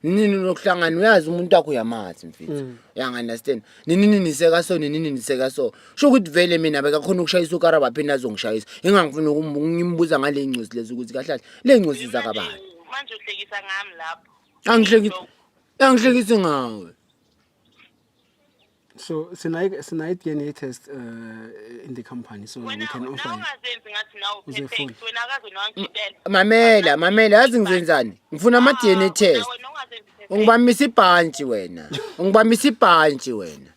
nini nokuhlangana uyazi umuntu wakho uyamazi mfethu mm. uyangunderstand nini nini niseka so nini nini niseka so sho ukuthi vele mina bekakhona ukushayisa ukara baphinde azongishayisa ingangifuna ngimbuza ngale ngcosi lezi ukuthi kahle kahle le ngcosi zakabani manje uhlekisa ngami lapho angihlekisi angihlekisi ngawe So sinayi sinayi DNA test uh, in the company so we can offer. Wena ungazenzi ngathi nawo perfect wena akaze nangidela. Mamela mamela yazi ngizenzani ngifuna ama DNA ah, test. Ungibamisa ibhantshi wena. Ungibamisa ibhantshi wena.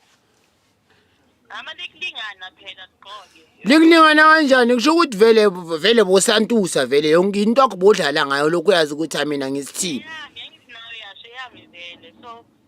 Ama likulingana phela qhoke. Likulingana kanjani kusho ukuthi vele vele bosantusa vele yonke into akubodlala ngayo lokho yazi ukuthi mina ngisithini. Yeah, ngiyanginayo yasho yami vele so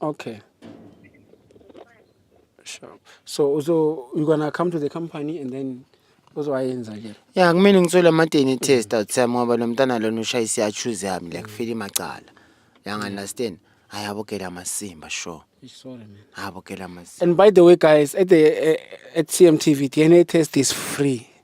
Okay. Sure. So uzo you gonna come to the company and then uzowayenza ke. ya kumele ngithole ama-dna test out time ngoba lo mntana lona ushaya isiyachuze yami like file imacala yangu-understand hayi abogela amasimba sure Sorry man. abogela amasimba And by the way guys at the uh, at CMTV DNA test is free.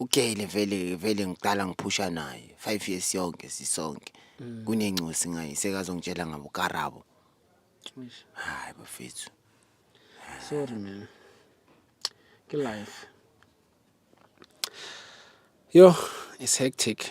uGele vele vele ngiqala ngiphusha naye 5 years yonke sisonke mm. kunencosi ngaye sekazongitshela ngabo karabo hayi bafethu sorry man ke life yo it's hectic